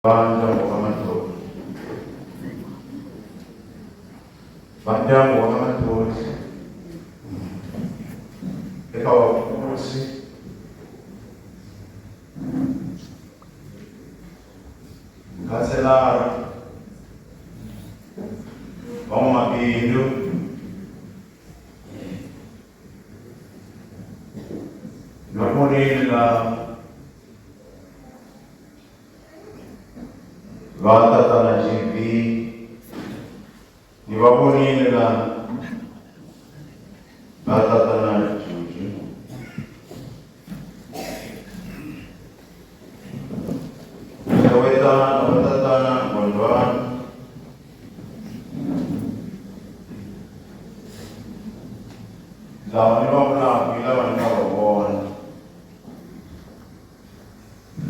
Vandyangu wa ka Matlotlo Vandyangu wa ka Matlotlo eka Wavukosi Mukhanselara Van'wamabindzu Nwamunini la va tatana gb ni va vonile la va tatana juju xewetana na va tatana gondwana lava ni va vulaka hi lava ni nga va vona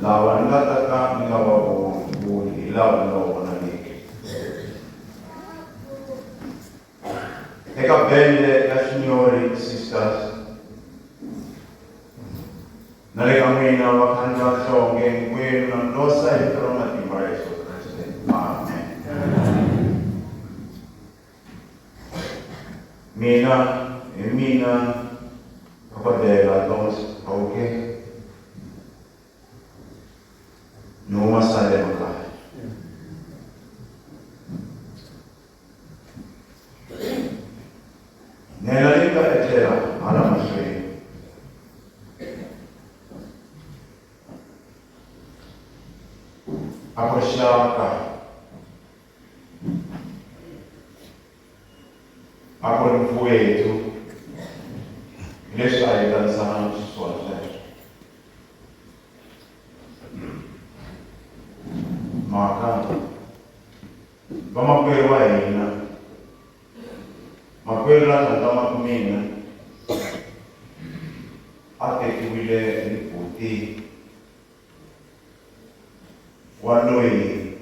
Lava ni nga ta ka ni nga va voni voni hi lava ni nga va vonangiki. Eka bende ya Signori Sisters na le ka n'wina vakhandzi va nhlonge hinkwenu na ndosa hi vito ra matimba ra Yesu Kriste. Amen. Mina, hi mina dokodela Lord Hauke. Ni huma Salem kaya. Nela ni nga etlela hala mahlweni. A ku ri xaka Akuri mfuwethu leswi a hi tanisana na xiswona sweswo mhaka vamakwerhu wa hina makwerhu la tlhandlama ku mina a tekiwile hi buti wa loyi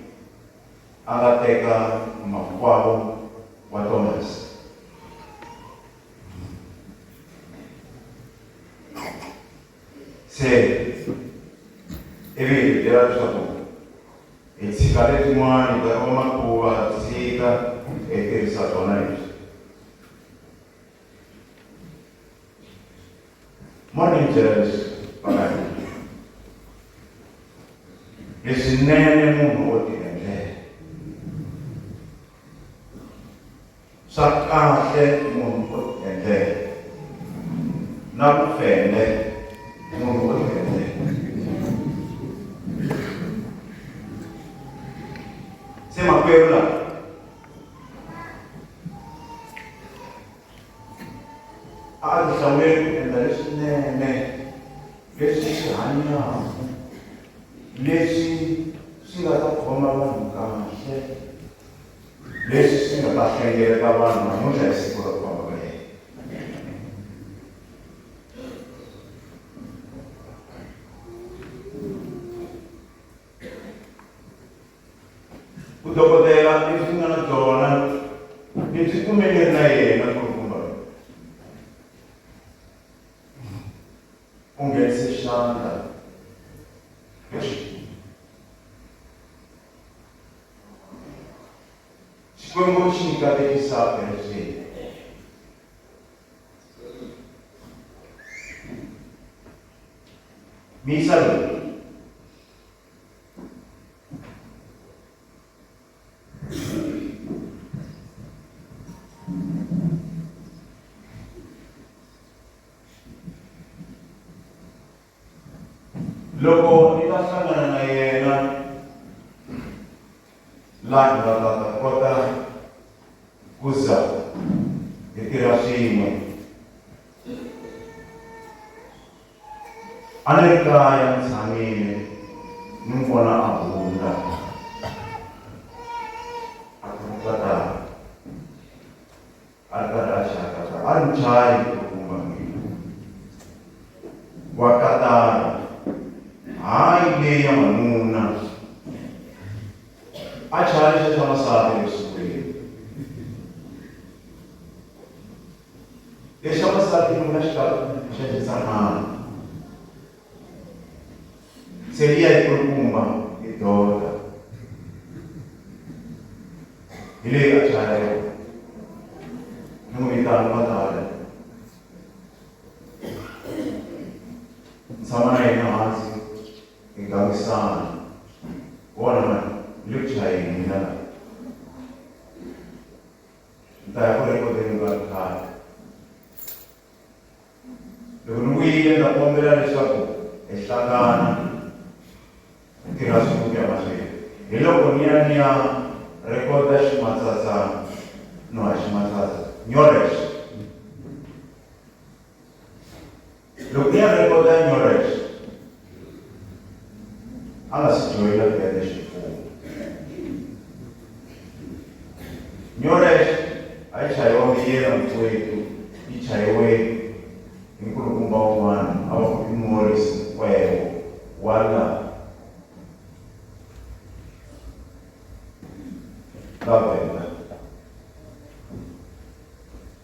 a nga teka makwavo wa Tomasi. Se ivi hi byela leswaku hi tshika letin'wana hi ta va makuva tshika hi tirhisa tona leswi monitors vakadii leswinene munhu wo ti endlela swa kahle munhu wo ti endlela na ku fende munhu wo ti endlela se makwerhu lawa a a ti hlawuleli ku endla leswinene leswi swi hanyaka leswi swi nga ta khoma vanhu kahle leswi swi nga ta hlengeleta vanhu namuntlha hi siku ra kwama ka yena vudokodela lebyi nga na byona lebyi kumeke na yena ku ri kumba u nghenise xandla xikwembu xi nyika letisaka leswini miyisa loyi loko ni ta hlangana na yena laha nga ta ta kota ku za hi tirha swin'we A ni ri kaya ni tshamile ni n'wi vona a hundza a ku ri tatana a ri karhi a chaya tatana a ri muchayi u kuma mina wa tatana hayi leyi ya manuna a chaya lexiya xa masati exikolweni Lexa wansati loyi a xi lava ku xanisa n'wana. Se liya yi kulukumba hi dota. Hi leyi a chaya yona. Ni n'wi vitana va ta ya. Ni tshama na yena hansi hi gangisana. Vona mani, ni le ku chayeni mina laha. nta ya ku rhekodeni va ri khale loko ni vuyile ndza kombela leswaku hi hlangana hi tirha swin'we ku ya mahlweni hi loko ni ya ni ya rhekoda ximatsatsana no ha ximatsatsa nyorex Loko ya rhekoda Nyoresh a nga si joyina bende xi pfuna. Nyoresh a yi chayiwa miyela mitswetu yi chayiwe hi nkulukumba wun'wana a va ku i Morris Nkwewo wa la ka Venda.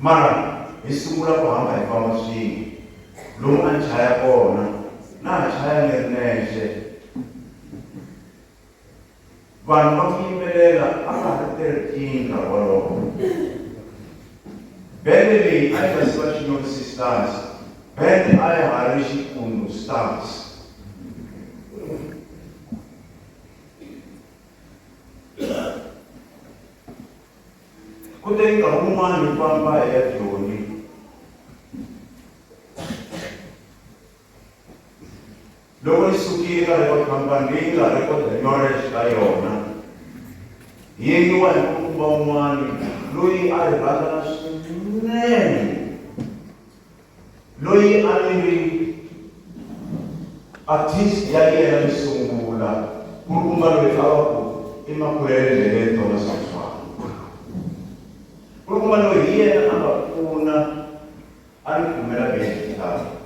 Mara hi sungula ku hamba hi famba swin'we. Lomu a ni chaya kona, na ha chaya ni ri nexe. Vanhu va ku yimbelela a va ha ri thirteen nkarhi wolowo. Bende leyi a yi nga si va Xinyonisi Stars, bende a ya ha ri Xikundu Stars. Ku te nkarhi wun'wana hi famba hi ya Joni. Loko hi sukile ka record company leyi nga record knowledge ka yona, hi yengiwa hi mukumba wun'wana loyi a hi rhandzana swinene loyi a ni ri artist ya yena yo sungula ku ri kuma loyi a va ku i makulele ndleleni tona switshwana ku ri kuma loyi hi yena a nga pfuna a ni kumela bexitalo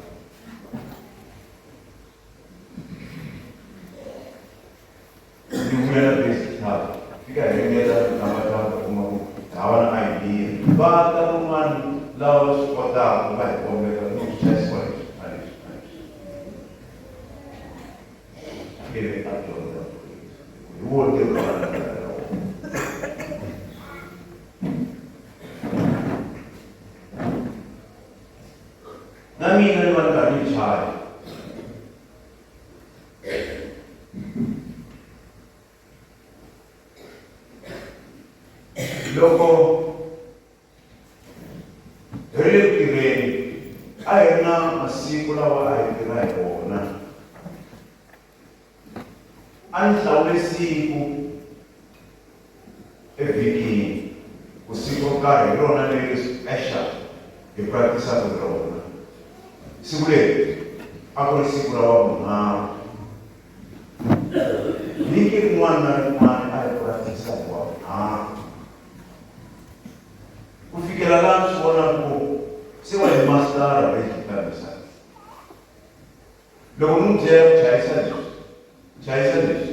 Ndzi vuya na base club fika hengeta tamba tamba kuma ku hawa na idea va ta kun'wana lava va swi kotaka va hi kombeta ku swi chayisiwa leswi a leswi a leswi akele a dyondza hi wo ntirho wa vana va ka wona na mina ni va ni karhi ni chaya loko hi ri le ku tirheni a hi ri na masiku lawa a hi tirha hi wona a ni hlawule siku Evhikini, ku siku ro karhi hi rona leri Asher hi pratisaka hi rona. Siku leri a ku ri siku ra Wavunharhu. Vhiki rin'wana na rin'wana a hi pratisa hi Wavunharhu. Ku fikela laha mi swi vonaka ku se wa hi masitara va yi kambisa. Loko ni n'wi byela ku chayisa leswi, chayisa leswi.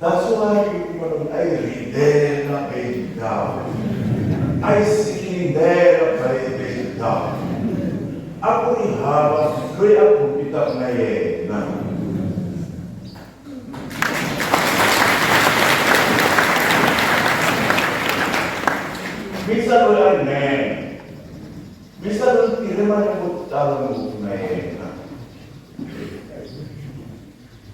That's why you kuma loko a yi rindela baby down. A yi sikindela baby baby down. A ku ri hava loyi a compete-aka na yena. Misa loyi a rinene. Misa loyi tirhe malembe yo tala ngopfu na yena.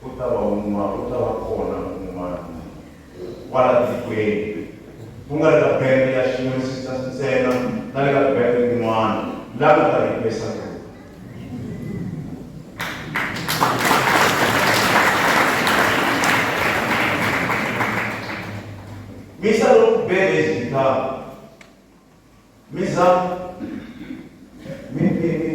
Ku ta va un'wana, ku ta va kona un'wana kwala tikweni, ku nga ri ka bende ya Xiyonisita ntsena na le ka bende tin'wana, la nga ta replace kona. Misa loku bende izigitara Misa, mi, mi, mi,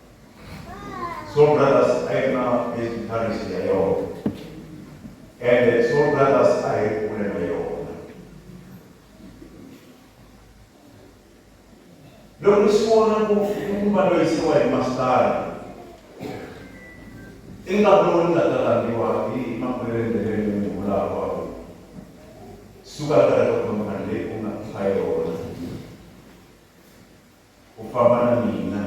Soul Brothers a yi ri na music parish ya yona ende Soul Brothers a yi ri kule na yona loko ni swi vona ku i ku va loyi se wa hi masitara i nga lowu ni nga ta langiwa hi makhwelendheleni ni vulava suka ka reka khomani leyi ku nga hlayo u famba na mina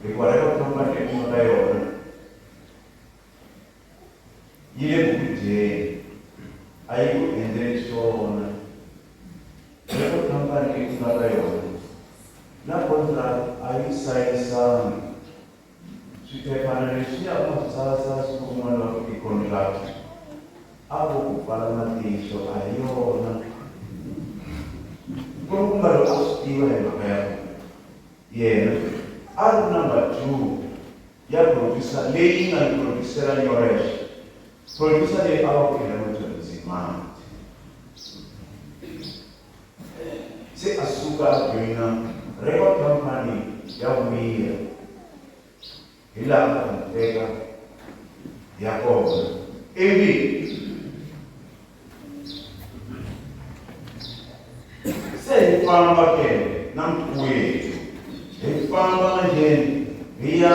hikuva loko ku famba hi kuma ka yona yi le ku dyeni a yi ku endleli swona loko khampani yi kuma ka yona na kontrakt a yi sayisangi Switephana leswiya a swi sasa swi pfumala futi contract. A vo ku pfala matihlo a hi yona. Nkulukumalo a swi tiva hi mhaka ya ku yena a ri number two ya producer leyi yi nga ni producer-a Nyoresh. Producer leyi a va ku i Hamilton Nzimande. se a suka a joyina record company ya vuyiya hi laha nga n'wi teka hi ya kona ivi se hi famba ke na mkhuwethu hi famba manjeni hi ya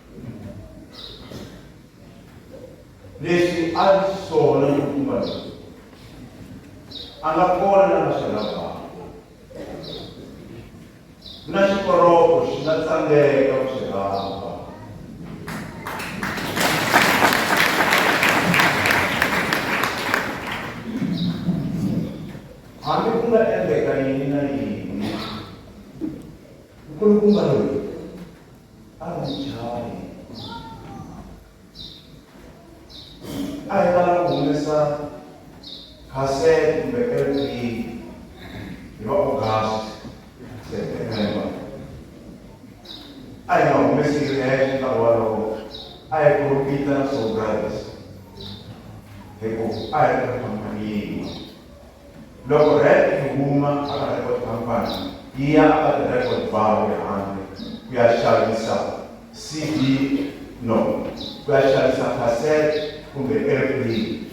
leswi a ri swona hikuva a nga kona na nga swi lavaka na xikoroko xi nga tsandzeka ku swi rhamba hambi ku nga endleka yini na yini nkulukumba loyi A ri ni jaha a hi tala ku humesa cassette kumbe LP hi va August September a hi nga humesi hi hexe nkarhi walowo a hi profita na Soul Brothers hikuva a hi ri khampani yin'we Loko rec yi huma hala record company yi ya aka ti record bar le handle ku ya xavisa CD no ku ya xavisa cassette kumbe airplane.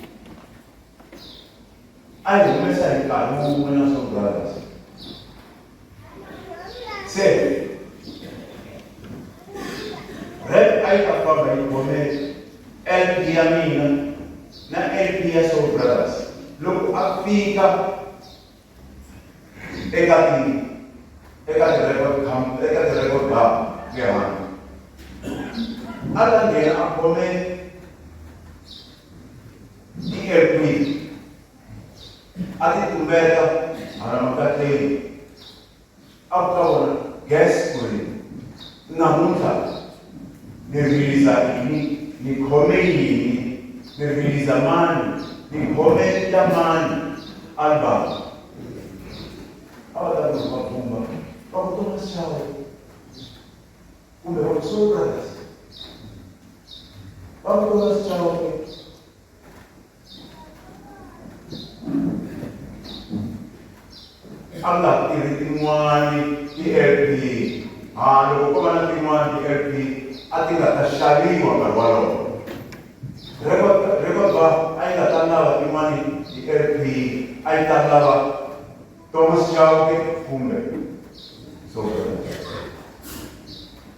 A yi humesa hi nkarhi wun'we na Soul Brothers. se rep a yi ta famba yi gomela lp ya mina na lp ya soul brothers loko a fika eka ti eka ti-record eka ti-record bar le handle a ta nghena a gomela i-lp a ti tumeta hala makatleni a ku ka vona gas kwini namuntlha ni riliza yini ni khome yini ni riliza mani ni khome ya mani album a va ta ku va bumba va ku toma xawe kumbe va ku soul brothers va ku toma xawe Allah i ri tin'wani ti-lp a loko ko va na tin'wani ti-lp a ti nga ta xaviwa nkarhi walowo rekoba a yi nga ta lava tin'wani ti-lp a yi ta lava thomas chauke kumbe so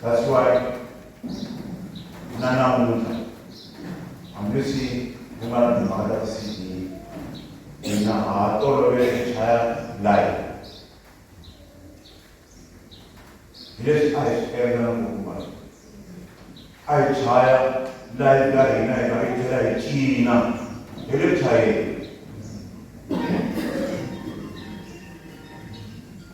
That's why na namuntlha hambileswi ku nga na timhaka ta ti-cd hina ha tolovele ku chaya live hi leswi a hi swi endla na ngopfuma a hi chaya live ka hina hi va hi tlhela hi cina hi le chayeni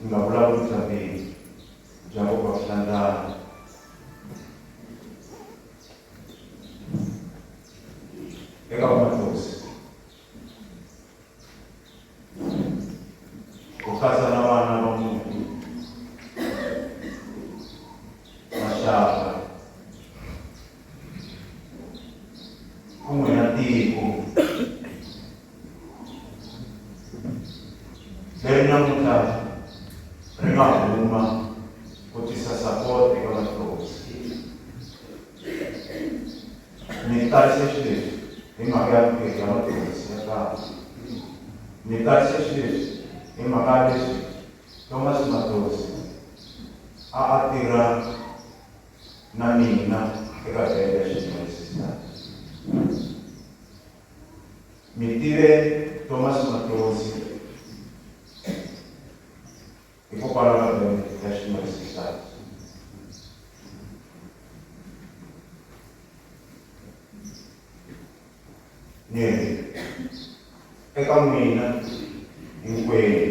ni nga vulavuli bya bindzu bya nkoka wa swihlangano eka vamathosi ku katsa na vana va muti maxaka van'winatiko leri namuntlha ri nga huma ku tisa support eka vahloti ni tarise xileswi hi mhaka ya vukeli ya mathekisi ya kava ni tarise xileswi hi mhaka ya leswi thomas matosi a a tirha na mina eka bende ya ximunisita mi tive thomas matonsi hikokwalaho na bende ya ximunisita ni ri eka n'wina hinkwenu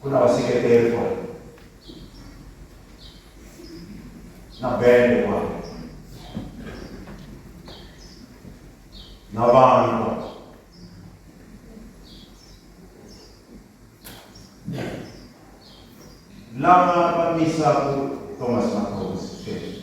ku na vaseketeri kwala na bende kwala na vanhu kwala lava va misaku thomas macosi sweswi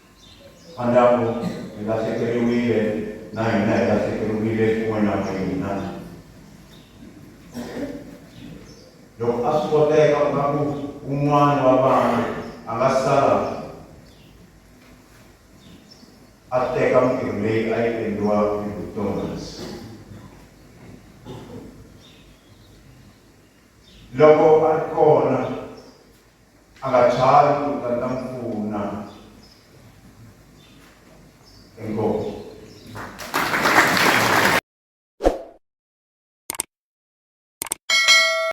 Andaku hi lahlekeriwile na hina hi lahlekeriwile kun'we na n'wina. Loko a swi koteka u nga ku un'wana wa vana a nga sala a teka mintirho leyi a yi endliwa hi vutomas loko a ri kona a nga chavi ku ta ta n'wi pfuna inkomu